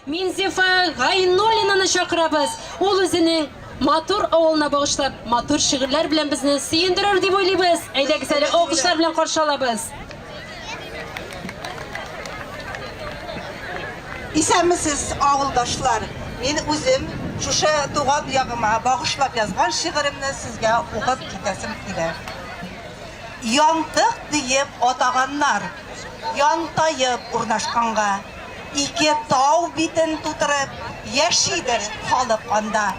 Минзифа Гайнуллинаны чакырабыз, ул үзенең матур авылына багышлап матур шигырьләр белән безне сөендерер дип уйлыйбыз. Әйдәгез әле алкышлар белән каршы алабыз. Исәнмесез, авылдашлар! Мин үзем шушы туган ягыма багышлап язган шигыремне сезгә укып китәсем килә. Янтык диеп атаганнар, янтаеп урнашканга. Ике тау битен тутырып яшидер халык анда.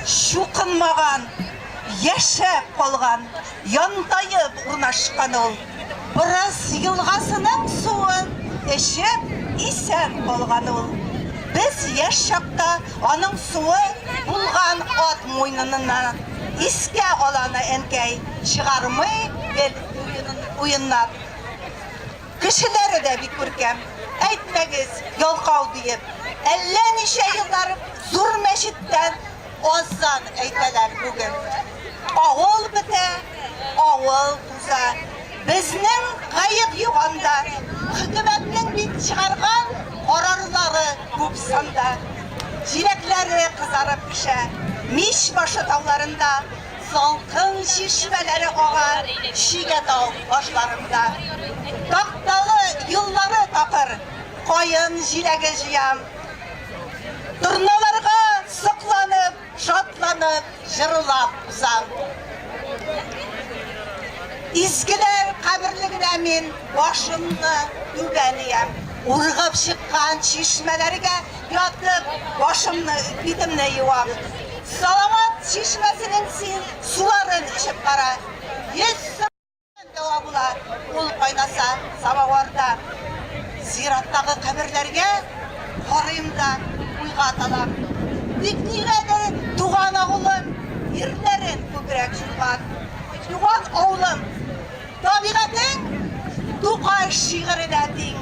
Чукынмаган, яшәп калган, янтаеп урнашкан ул. Борыс елгасының суын эчеп исән калган ул. Без яшь чакта аның суы булган ат муйнынына искә аланы әнкәй чыгармый гел уеннап. Кешеләре дә бик күркәм. Әйтмәгез, ялкау диеп. Әллә ничә еллар зур мәчеттән азан әйтәләр бүген. Авыл бетә, авыл уза. Безнең гаеп юк анда. Хөкүмәтнең бит чыгарган карарлары күп санда. Җиләкләре кызарып пешә. Мич башы тауларында. Салкын чишмәләре ага Чигә тау башларында. Такталы юллары такыр, Каен җиләге җыям. Торналарга сокланып, Шатланып, җырылап узам. Изгеләр каберлегенә мин Башымны түбән иям. Ургып чыккан чишмәләргә. Ятып, башымны, битемне юам. Салават чишмәсенең син суларын эчеп кара. Йөз сырдан дәва була ул кайнаса самаварда. Зираттагы каберләргә карыйм да уйга талам. Тик нигәдер туган авылым ирләрен күбрәк җуйган. Туган авылым, Табигатең Тукай шигыренә тиң.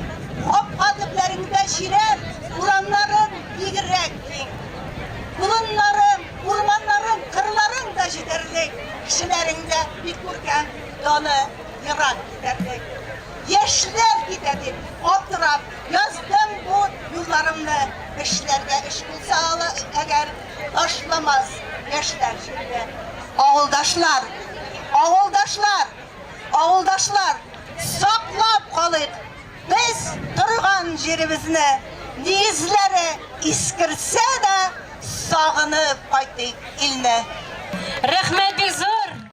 Капка төпләреңдә чирәм, урамнарың бигрәк киң. Болыннарың, урманнарың, кырларың да җитәрлек, кешеләрең дә бик күркәм, даны ерак китәрлек. Яшьләр китә дип аптырап яздым бу юлларымны, эшләргә эш булса ала әгәр, ташламас яшьләр җирдә. Авылдашлар! Авылдашлар! Авылдашлар! Саклап калыйк без торган җиребезне, нигезләре искерсә дә, сагынып кайтыйк илне! Рәхмәт бик зур!